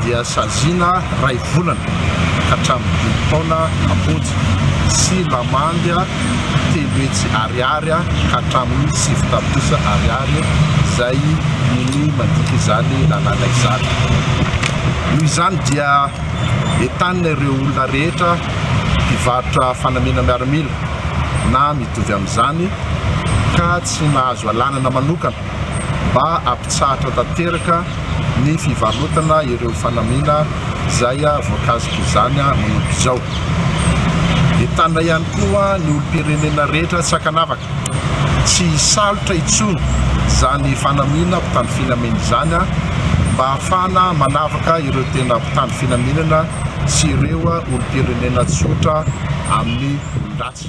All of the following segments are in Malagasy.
dia saziana iray volana ka hatramin'ny dimy taona am-ponja sy lamandy telo hetsy ariary ka hatramin'ny sivy tapitrisa ariary izay ny mandika izany lalàna izany. Noho izany dia entanina ireo olona rehetra mpivarotra fanamiana miaramila na mitovy amin'izany ka tsy nahazo alanana manokana mba hampitsahatra tanteraka ny fivarotana ireo fanamiana izay voankazik'izany manomboka izao. Entanina ihany koa ny olom-pirenena rehetra tsy ankanavaka tsy hisalotra intsony izany fanamiana mpitandro filaminana izany mba hahafahana manavaka ireo tena mpitandro filaminana sy ireo olom-pirenena tsotra amin'ny olon-dratsy.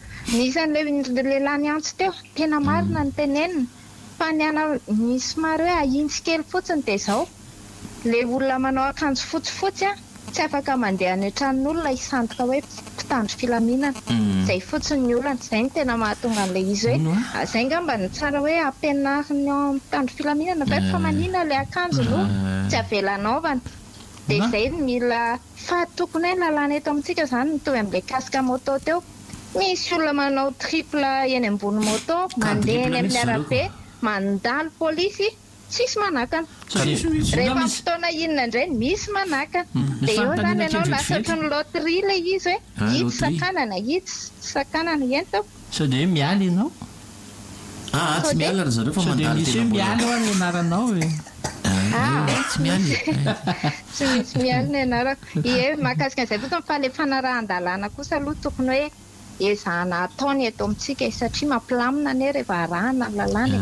Ny isan'ireo lehilahy niantso teo, tena marina ny teneniny, fa ny ana, ny somary hoe ahintsy kely fotsiny dia izao, ilay olona manao akanjo fotsifotsy an, tsy afaka mandeha any an-tranon'olona hisandoka hoe mpitandro filaminana, izay fotsiny ny olana, izay no tena mahatonga an'ilay izy hoe, izay angamba no tsara hoe ampianarin'ny mpitandro filaminana ve fa manina ilay akanjo no tsy avela anaovana, dia izay no mila. Fa tokony hoe nalana eto amintsika izany ny toy an'ilay casque moto teo. Misy olona manao triple eny ambony moto, mandeha eny amin'ny arabe, mandalo polisy, tsisy manakana. Rehefa amin'ny fotoana inona indray misy manakana. Dia eo izany ianao lasa ohatran'ny loterie ilay izy hoe itsy sakanana, itsy sakanana. Eny tompoko. Sao dia hoe miala ianao? Aa tsy miala ry zareo fa mandalo tena mbola. Sao dia misy hoe miala hoa ny anaranao e? Aa tsy miala e. Tsy misy miala ny anarako. Ie mahakasika an'izay fotsiny fa ilay fanarahan-dalàna kosa aloha tokony hoe ezahana atao ny eto amintsika e, satria mampilamina anie rehefa arahana ny lalàna e.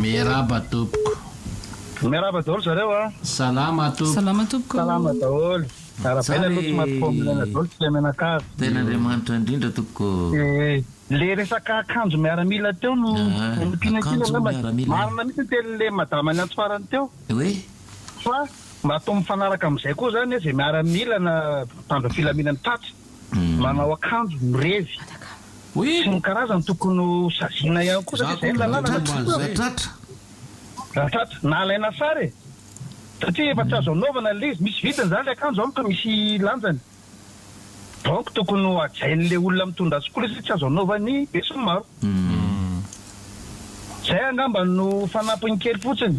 Miaraba tompoko. Miaraba daholo zareo a. Salama tompoko. Salama tompoko. Salama daholo. Arabaina aloha tsy maty fo milaina daholo tsy tia mianakavy. Tena Andriamanitra indrindra tompoko. Le resaka akanjo miaramila teo no ompiana kely aloha marina mihitsy ny tenin'le madama niantso farany teo fa mba atao mifanaraka amzay koa zany hoe ze miaramila na mpitandro filaminana tratry. manao akanjo mirevy sy ny karazany tokony ho saziana ihany koa satria izay no lalàna na tsy tokony e. Raha tratra na alaina sary e. Satria efa tsy azo anaovana ilay izy. Misy vidiny izany ilay akanjo amiko, misy lanjany. Donc tokony ho hajain'ilay olona mitondra azy koa ilay izy satria tsy azo anaovan'ny besinimaro. Izay angamba no fanampiny kely fotsiny.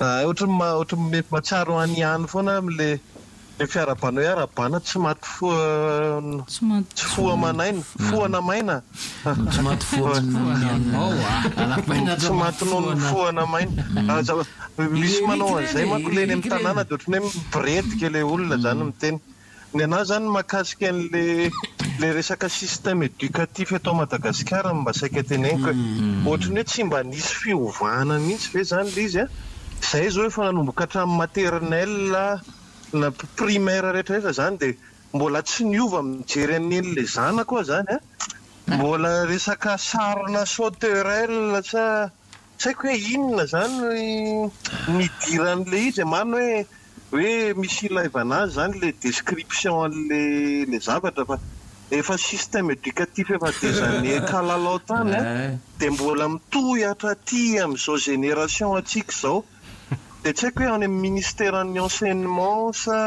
Hay ohatry ny ohatry ny mety mahatsiaro any ihany foana aho amin'ilay ilay fiarahabana hoe arabana tsy maty foa Tsy maty tsy foa manaina foana maina Tsy maty foa manaina anao a Arabana tsy maty noho ny foana maina Aza misy manao an'izay manko ilay eny amin'ny tanàna dia ohatry ny hoe miboredika ilay olona izany miteny Ny anah izany mahakasika an'ilay resaka système éducatif eto Madagasikara no mba saika teneniko e. Ohatry ny hoe tsy mba nisy fiovana mihitsy ve izany ilay izy an? Izahay izao efa nanomboka hatramin'ny maternelle na primaire rehetra rehetra izany dia mbola tsy niova mijery an'i Neny ilay zanako aho izany an! Mbola resaka sarina sauterelle sa Tsy haiko hoe inona izany no idiran'ilay izy e, marina hoe hoe misy ilaivana azy izany ilay description an'ilay zavatra fa efa système éducatif efa des années kalalao tany an, dia mbola mitohy hatraty amin'izao génération antsika izao, dia tsy haiko hoe any amin'ny ministeran'ny enseignement sa.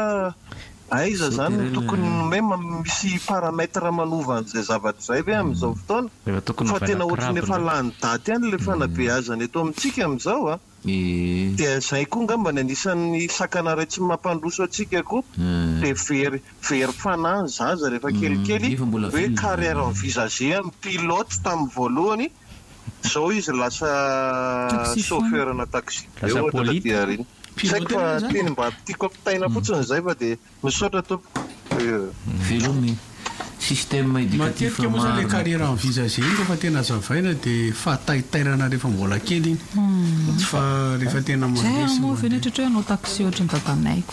Aiza zany no tokony nomey misy paramètre manova an'izay zavatra izay ve amin'izao fotoana? Fa tena ohatran'ny efa lany daty ihany ilay fanabeazana eto amintsika amin'izao a! Dia izay koa angamba ny anisan'ny sakana iray tsy mampandroso antsika koa dia very very fanahy ny zaza rehefa kelikely hoe carrière envisagée amin'ny pilote tamin'ny voalohany Zao izy lasa chauffeur ana taxi be ohatra taty aoriana. Tsy haiko fa teny mba tiako ampitaina fotsiny izay fa dia misaotra tompoko. Veloma e! Système éducatif marina tokoa. Matetika moa zany le carrière envisagée iny rehefa tena azavaina de fahataitairana rehefa mbola kely iny, fa rehefa tena mandresy. Zay moa ve ny ohatratra hoe hanao taxi ohatran'ny dadanay ko.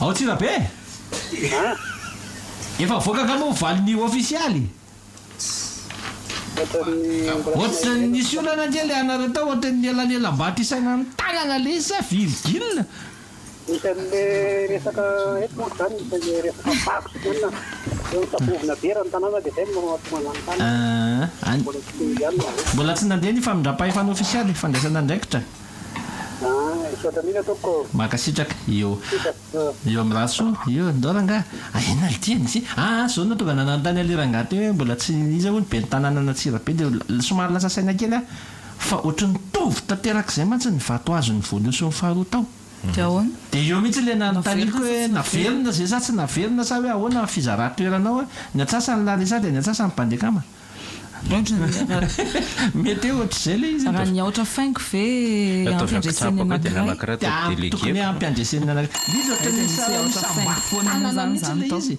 Ao Antsirabe? Efa avoaka angamba ho valiny ofisialy? Ohatrany nisy olana kely anareo tao ohatrany ny elanelam-bato isaina ny tanana lesy sa virgule? Isan'ilay resaka eto manko izany dia ilay resaka vato sy inona, dia misabovina be raha ny tanàna dia izay no mahatonga an'izany tany. Ahh, any, Mbola tsy teo ihany izy ireo. mbola tsy nandeha ny famindram-pahefana ofisialy, fandraisana andraikitra. Ahh, misaotra indrindra tompoko. Mankasitraka. Io, Sipa. Ahh. io amin'i Rasoa io, ndao rangahy, ah inona le tiany ity, ah ah zao no nahatonga anah nanontany an'ilay rangahy teo hoe mbola tsy, iza hono, ben'ny tanànan'Antsirabe, dia somary lasa saina kely aho. fa ohatry ny tovy tanterak'izay mantsy ny vato azon'ny voalohany sy ny faharoa tao. Dia ahoana? Dia eo mihitsy ilay nanontaniako hoe naverina izay sa tsy naverina sa hoe ahoana ny fizaran-toerana ao ny antsasany Larisa dia ny antsasany Bandekama. Mety hoe ohatr'izay ilay izy eto. Raha ny aotra faingo ve ampiandresen'ny anankiray? Dia tokony hampiandresen'ny anankiray. Ilay izy ohatry ny misy isam-batana mihitsy ilay izy.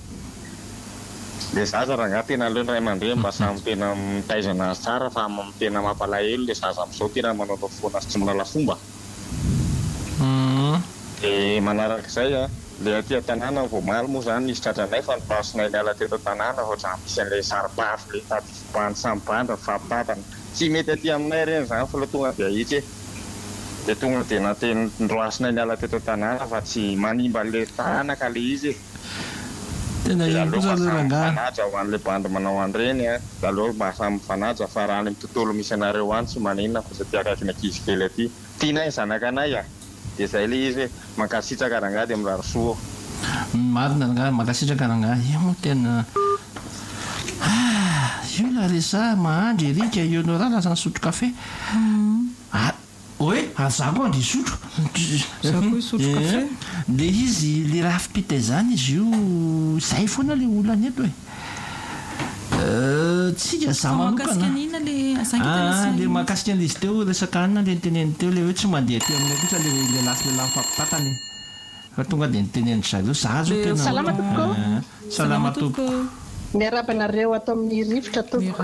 Le zaza rangah tena aleo ny ray aman-dreny mba samy tena mitaiza anazy tsara fa tena mampalahelo le zaza amzao tena manaonao foana sy tsy manala fomba de manarak'izay a le aty an-tanàna vao omaly moa zany nisy tratranay fa nopasinay niala teto an-tanàna ohatrany misy an'le saro-pafy le tady fipoahan'ny samy bandra mifampitantana tsy mety aty aminay reny zany fa le tonga de ahitsy e de tonga de nateny ndroasinay niala teto an-tanàna fa tsy manimba an'le taranaka le izy e. Tena iny kosa aloha rangahy. Milalao mba samy mifanaja ho anle bandy manao anreny a! Milalao mba samy mifanaja fa raha any am tontolo misy anareo any tsy maninona fa satria akaiky ny ankizy kely aty tianay ny zanakanay a! Dia zay le izy hoe mankasitraka rangahy dia mirary soa ô! Marina rangahy, mankasitraka rangahy. Io moa tena ah! Io ilay resaha mahandry Eric Ionora lasa nisotro kafe ah! Oe aza koa dia hisotro. Za koa hisotro kafe. Dia izy le rafi-pita izany izy io izay foana le olana eto e. Tsika za manokana ah le mahakasika an'izy teo resaka hanina le niteneniny teo le hoe tsy mandeha aty aminay kosa le lehilahy sy lehilahy mifampitantana e. Fa tonga dia nitenenindry zareo za zao tena Salama tompoko ô. Salama tompoko. Miarahaba anareo ato amin'ny rivotra tompoko.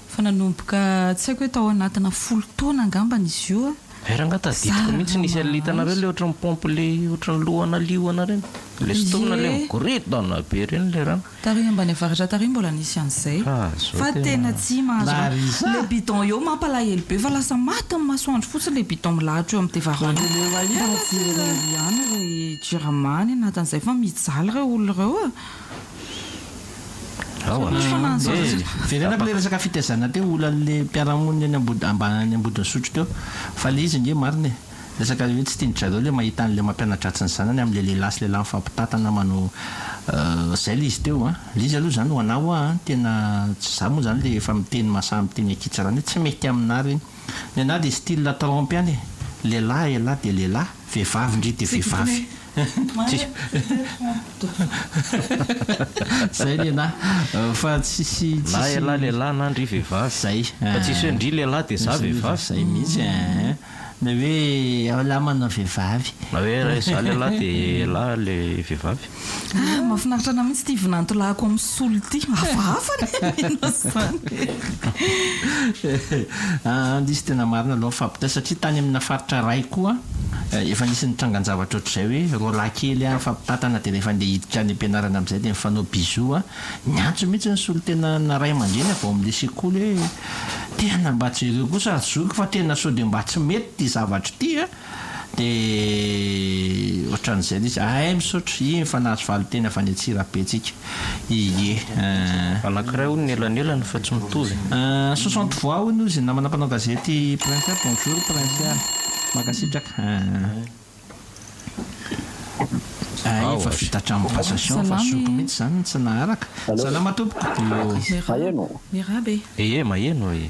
Fa nanomboka tsy haiko hoe tao anatina folo taona angambany izy io a. Hay rangah tadidiko mihitsy nisy an'ilay hitanareo ilay ohatran'ny pompe ilay ohatran'ny lohana liona ireny. Ilay sintomina ilay migoridona be ireny ilay rano. Tary ambany avaratra tary mbola nisy an'izay. Fa tena tsy mahazo rano. Ilay bidon eo mampalahelo be fa lasa maty amin'ny masoandro fotsiny ilay bidon milahatra eo amin'ny tevarango. Mba jereo ihany ry jirama any anatin'izay fa mijaly ireo olona ireo a. Aowa. Jerena aby le resaka fitaizana teo olanle mpiarahamonina eny ambany ambodin'sotro teo fa le izy nge marina e! resaka le hoe tsy tian-dry zareo le mahita anle mampianadratsy ny zanany amle lehilahy sy lehilahy mifampitantana manao zay le izy teo an! le izy aloha zany ho anah hoa an! tena tsy za moa zany le efa miteny mahasahy miteny ankitsa rany hoe tsy mety aminah reny! ny anah de style trompy any e! lehilahy elah de lehilahy! vehivavy ndry de vehivavy! Zay lehilahy fa tsisy Na elah lehilahy na ndry vehivavy. Zay. Fa tsisy hoe ndry lehilahy dia za vehivavy. Zay mihitsy ee. Na hoe elah manao vehivavy. Na hoe raha izaho lehilahy dia elah ilay vehivavy. Ah mafinaritra anah mihitsy ity vinantolahiko am. Tsy olona ity. Hafahafa ny mihaino azy izany. An, izy tena marina aloha ny fahabontay satria tany amina faritra iray koa efa nisy nitrangan-javatra ohatr'izay hoe roa lahy kely an, mifampitantana dia rehefa andeha hiditra any am-pianarana amin'izay dia mifanao bisous an, niantso mihitsy ny solontenana ray aman-dreny avy ao amin'ilay sekoly hoe tena mba jereo kosa ry zoky fa tena sao dia mba tsy mety ity zavatra ity an. Dia otran'izay ilay izy, ahay misaotra, iny fa nahazo valinteny avy any Antsirabe tsika, ie eh. Anankiray hono ny elanelany fa tsy mitovy e. Soixante voix hono ozy namana mpanao gazety Princea bonjour Princea mankasitraka ah iny fa vita hatramin'ny passation fa zoky mihitsy izany ny tsy naharaka salama tompoko maheno maheno e. Ie maheno e.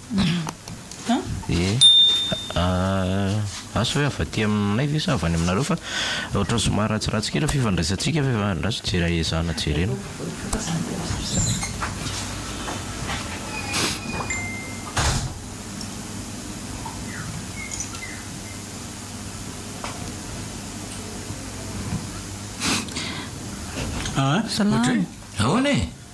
Eeh asa hoe avy aty aminay ve sa avy any aminareo fa ohatran'ny somary ratsiratsy kely ny fifandraisantsika fa efa andraso jera ezahana jerena. Salama. Ahoana e?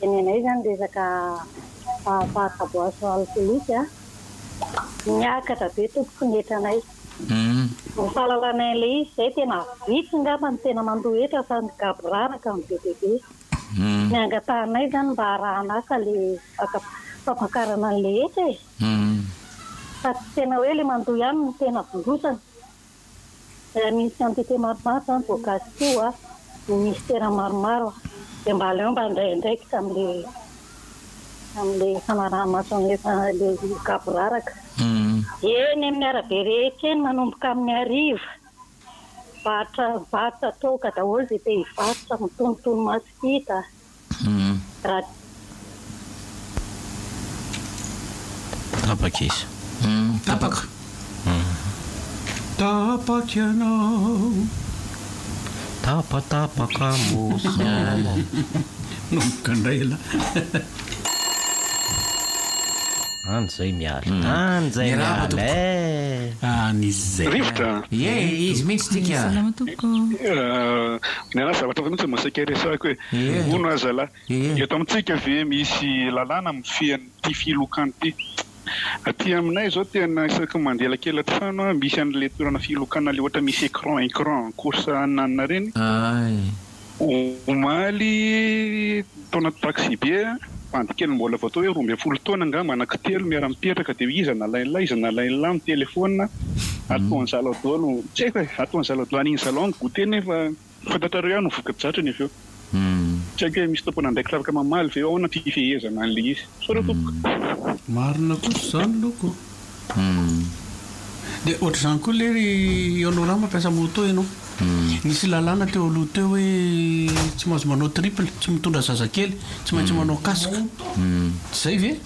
Tenenay zany resaka fahafaha-kaboaso alkolika miakatra be tompoko ny hetranay. Ny fahalalanay an'ilay izy izay tena vitsy ngamba no tena mandoa hetra fa ny gaboraraka no be dia be. Ny angatahanay zany mba arahan'asa le fampakarana an'ilay hetra e! Fa tsy tena hoe le mandoa ihany no tena vondrosana. Misy entité maromaro izany voankazo ity hoa ministera maromaro dia mba aleo mba handray andraikitra amin'ilay amin'ilay fanaraha-maso an'ilay ilay gaboraraka. Eny amin'ny arabe rehetra eny manomboka amin'ny hariva. Varotra varotra toaka daholo izay te hivarotra, mitonotono maso hita. Raha. Tapaka izy. Tapaka. Tapaka ianao. Tapatapaka mozika. Manomboka indray ialahy. Any izay miala. Any izay miala eh. Any izay. Rivotra. Ie izy mihitsy tika. Salama tompoko. Niala zavatra fa mihitsy vao saika hiresahako hoe hono aho zalahy. Eto amintsika ve misy lalàna mifehy an'ity filokana ity? Aty aminay izao tena isaky ny mandeha elakela-trano aho misy an'ilay toerana filokana ilay ohatra misy écran écran course ananana ireny omaly. Taona taxibe a! Bandy kely mbola vao atao hoe roa ambin'ny folo taona angamba anaky telo miara mipetraka dia hoe iza nalain'la iza nalain'la ny telephone a! Ataon'i zalaho daholo ny tsy haiko e! Ataon'i zalaho daholo an'iny zalaho ny goûter nefa fantatrareo ihany ny voka-dratriny avy eo. Tsy haiko hoe misy tompon'andraikitra afaka mamaly ve ahoana ny fifehezana an'ilay izy. Sao reo tompoko. Marina kosa izany loko. Dia ohatr'izany koa lery ianao raha mampiasa moto ianao. Nisy lalàna teo aloha teo hoe tsy mahazo manao triple, tsy mitondra zazakely, tsy maintsy manao casque. Tsy izay ve?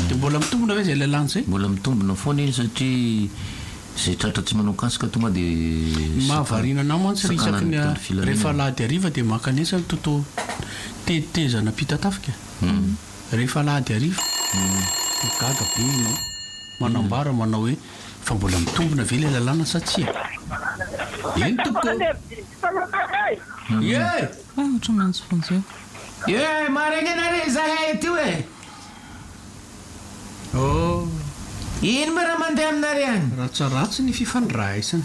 Dia mbola mitombina ve izay lalàna izay? Mbola mitombina foana iny satria izay tratra tsy manao casque tonga dia sakana. Ny mahavariana an'ahy mantsy ry isaky ny rehefa alahady hariva dia mankanesa ny toto-tetezana ampitatafika. Rehefa alahady hariva no ho gaga be ianao. Manambara manao hoe, Fa mbola mitombina ve ilay lalàna sa tsia? Eny tompoko! Ee, maharegnena re izahay ety e! Oh! Ino moa raha mandeha aminareo any? Ratsaratsy ny fifandraisana.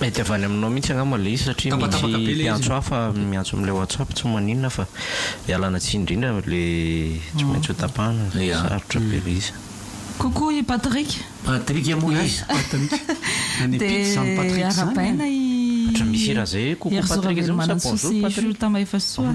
Mety avy any aminao mihitsy angamba ilay izy satria misy mpiantso hafa miantso amin'ilay WhatsApp tsy maninona fa ialana tsiny indrindra ilay tsy maintsy ho tapahana izay sarotra be ilay izy. Coucou i Patrick. Patrick moa iza? Patrick. Any Pite izany Patrick izany. Arahabaina i Herzou Ravelomanantsoa sy Shultama Hefasoa.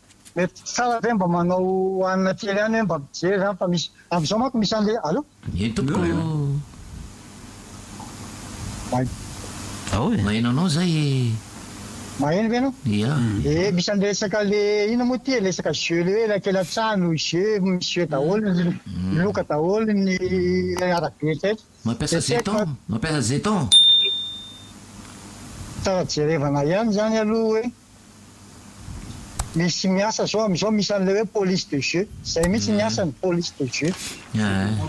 Mety tsara ve mba manao hanina kely ihany hoe mba mijery izany fa misy amin'izao manko misy an'ilay allo? Eny tompoko ô. Mahay. Ao e. Maheno anao zay e. Maheno ve ianao? Ia. Ee misy an'ilay resaka le inona moa ity e, ilay resaka jeux le hoe ilay kely an-tsaha no jeux, misy jeux daholo ny loka daholo ny arabe rehetra. Mampiasa jeton? Mampiasa jeton? Tsara jerevana ihany izany aloha hoe. Misy miasa zao amizao misy anle hoe police de jeu zay mihitsy ny asany police de jeu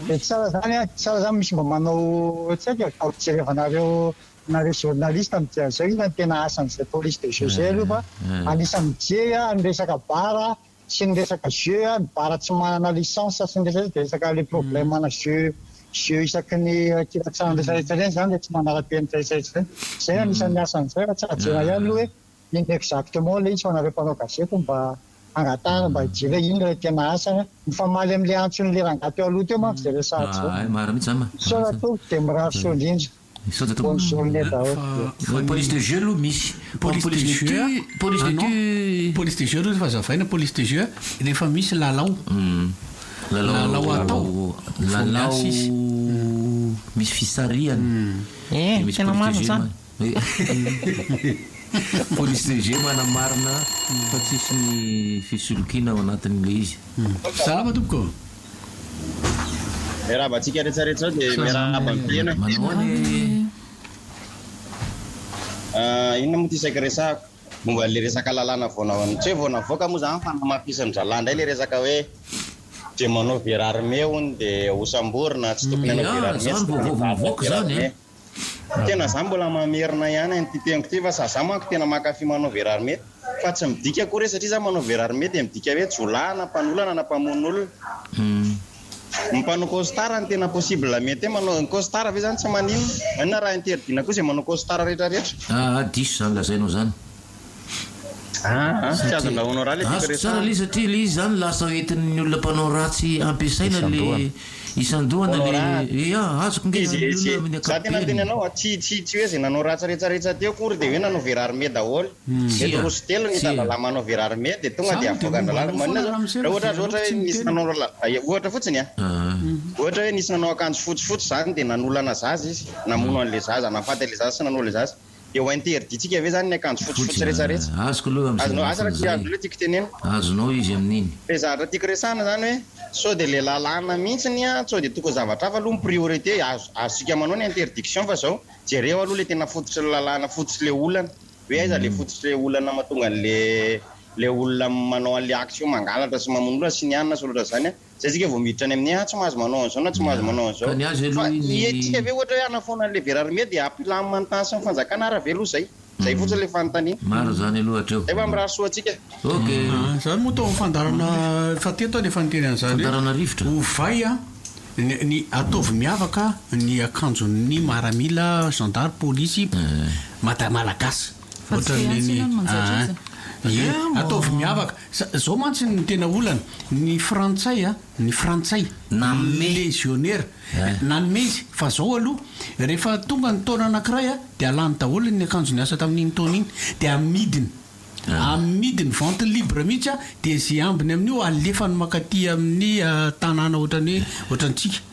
de tsara zany an tsara zany misy mba manao tsy aiko e vao fijerevana reo nareo journaliste am dia zao inona no tena asanzay police de jeu zay aloha fa anisany mijery an am resaka bar an. sy ny resaka jeux a, ny bar tsy manana licence sy ny resaka dia resaka le problème ana jeux jeux isaky ny kilatsahany rehetra rehetra ireny zany le tsy manarapenitra rehetra rehetra ireny zay anisan'ny asany izay fa tsy hahazoana ihany aloha hoe inona exactement le izy fa nareo mpanao gazety no mba hangatahana mba hijery hoe inona le tena asany a mifamaly amle antson'le rangahy teo aloha teo manko izay resahana izay marina mihitsy izany ma Soa Ratovy dia mirary soa indrindra. Bonjour ne daoly e. Police de jeux aloha misy. Police de jeux a, ah non, police de jeux aloha efa zavaina, police de jeux rehefa misy lalao, lalao atao vao miasa izy. Lalao misy fisarihana dia misy police de jeux manana. Police de jeux manamarina fa tsisy ny fisolokiana ao anatin'ilay izy. Salama tompoko. Miarahaba antsika rehetra rehetra zao dia miarahaba an'i Tena. Manao ahoana ee? Ah, inona moa ity saika resahako? Momba an'ilay resaka lalàna vao na- tsy hoe vao navoaka moa izany fa namafisin'ny zalahy indray ilay resaka hoe dia manao verarme hono dia hosamborina, tsy tokony hanao Dia, ah, verarme, izany tsy vao tokony vao vao hivady mivoaka hanao izany, verarme. Fa tena za mbola mamerina ihany an'ity teniko ity fa za manko tena mankafy manao verarme fa tsy midika akory hoe satria za manao verarme dia midika hoe jiolahy na mpanolana na mpamono olona. Ny mpanao costard no tena possible mety hoe manao, ny costard ve zany tsy maninona? Maninona raha interdit-na koa izay manao costard rehetra rehetra? Aa diso izany lazainao izany. Azoko tsara ilay izy satria ilay izy izany lasa hoentin'ny olona mpanao ratsy ampiasaina le isan-dohana le ya azoko nge ny olona amin'ny ankapobeny. Dia ho interdit-tsika ve zany ny akanjo fotsifotsy rehetrarehetra? Azoko aloha amin'izay Azonao, asa raha tiako loatra tiako tenenina. Azonao izy amin'iny. Dia izany raha tiako resahana izany hoe sao dia ilay lalàna mihitsy ny an, sao dia tokony zavatra hafa aloha ny priorité, azo, azontsika manao ny interdiction fa izao, jereo aloha ilay tena fototry ny lalàna, fototry ilay olana, hoe aiza ilay fototry ilay olana mahatonga an'ilay ilay olona manao an'ilay action mangalatra sy mamono olona sy ny an na sy ny ohatr'izany an. Zay tsika vao miditra any amin'ny ah tsy mahazo manao an'izao na tsy mahazo manao an'izao. Fa iantsika ve ohatra hoe hanafoana an'ilay vera armée dia hampilamina ny tany sy ny fanjakana ara ve aloha izay? Izay fotsiny ilay fanontaniana. Maro izany aloha hatreo. Zay mba mirary soa antsika. Ok. Izany moa atao fandaharana efa teto aho dia efa niteny an'izany hoe. Fandaharana rivotra. Ovay ny ataovy miavaka ny akanjon'ny maramila, zandary, polisy, mada malagasy. Ohatran'ny ny ah. Ataovy miavaka. Za, zao mantsy ny tena olana, ny frantsay a, ny frantsay, ny lezionera, nanome izy, fa zao aloha, rehefa tonga ny taona anakiray a, de alany daholo ny akanjo niasa tamin'iny taona iny, de amidiny, amidiny vente libre mihitsy a, de ze ambiny amin'io alefany makaty amin'ny tanàna ohatrany hoe, ohatrantsika.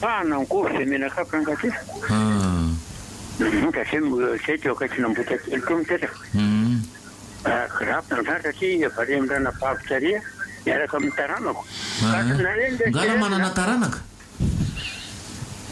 Pahana ny goavy izay menak'akotra ankatsotra. Satria izay teo akaikina Ambohitrakely teo mipetraka. Grapy ny tratra satria varian-drana babo tareha miaraka amin'ny taranako. Nga raha manana taranaka?